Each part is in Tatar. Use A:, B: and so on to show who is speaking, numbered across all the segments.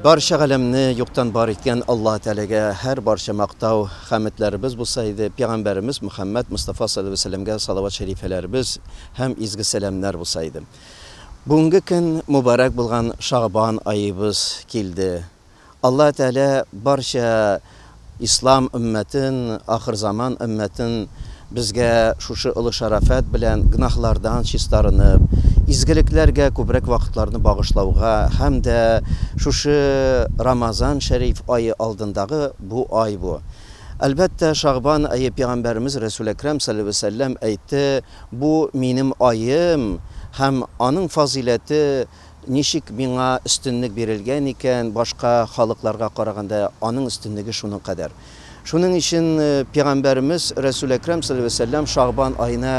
A: Барча галәмне юктан бар иткән Аллаһ Тәгаләгә һәр барча мактау, хәметләребез булса иде, пәйгамбәребез Мөхәммәд Мустафа саллаллаһу алейһи ва сәлләмгә салават шәрифәләребез һәм изге сәламнәр булса иде. Бүгенге көн мубарәк булган Шагъбан аебыз килде. Алла Тәгалә барча Ислам өммәтен, ахырзаман өммәтен безгә шушы олы шәрәфәт белән гөнаһлардан чистарынып, изгелекләргә күбрәк вакытларны багышлауга һәм дә шушы Рамазан шәриф ае алдындагы бу ай бу. Әлбәттә, Шагъбан ае Пәйгамбәребез Рәсүл Әкрам салләлләһү галәйһи ва сәлләм әйтте, Бу, минем аем, һәм аның фазыйләте, ничек миңа өстенлек бирелгән икән, башка халыкларга караганда аның өстенлеге шуның кадәр. Шуның өчен пигамбәребез Рәсүл Әкрам салләллаһу галәйһи ва сәлләм Шәгъбан аена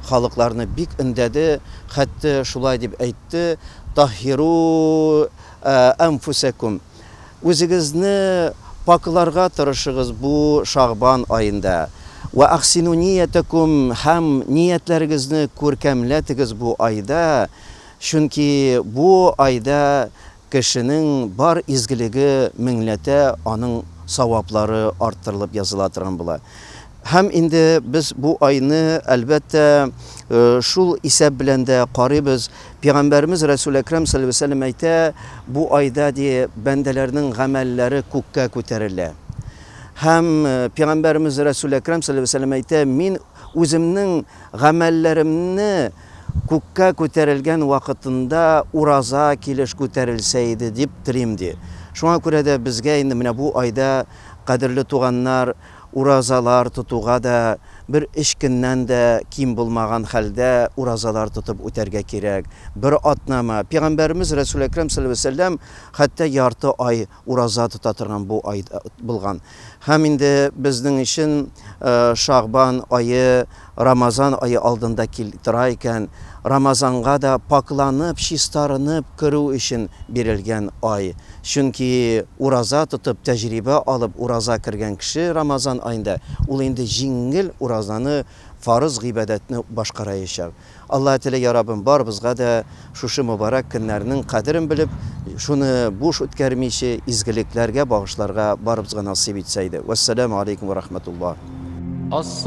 A: халыкларны бик өндәде, хәтта шулай дип әйтте, Таһһиру әнфүсәкүм. Үзегезне пакъларга тырышыгыз бу Шәгъбан аенда. Вә әхсину ниятәкум һәм ниятләрегезне күркәмләтегез бу айда, чөнки бу айда кешенең бар изгелеге меңләтә, аның саваплары арттырылып языла торган була. Һәм инде без бу айны, әлбәттә, шул исәп белән дә карыйбыз. Пигамбәребез Рәсүл Әкрәм салләлләһү галәйһи ва сәлләм әйтә, Бу айда, ди, бәндәләрнең гамәлләре күккә күтәрелә. Һәм Пигамбәребез Рәсүл Әкрәм салләлләһү галәйһи ва сәлләм әйтә, Мин үземнең гамәлләремне күккә күтәрелгән вакытында ураза килеш күтәрелсә иде дип телим, ди. Шуңа күрә дә безгә инде менә бу айда, кадерле туганнар, Уразалар тотуга да бер өч көннән дә ким булмаган хәлдә уразалар тотып үтәргә кирәк. Бер атнамы? Пигамбәребез Рәсүл Әкрәм салләллаһу галәйһи вә сәлләм хәтта ярты ай ураза тота торган бу ай булган. Һәм инде безнең өчен Шәгъбан ае Рамазан ае алдында кил тора икән, Рамазанга да пакъланып, чистарынып керү өчен бирелгән ай. Чөнки ураза тотып, тәҗрибә алып ураза кергән кеше Рамазан аенда ул инде җиңел уразаны, фарыз гыйбадәтне башкараячак. Алла теле, я Раббым, барыбызга да шушы мөбарәк көннәрнең кадерен белеп, шуны буш үткәрмиче, изгелекләргә багышларга барыбызга насыйп итсә иде. Вәссәламү аләйкүм вә рахмәтуллаһ.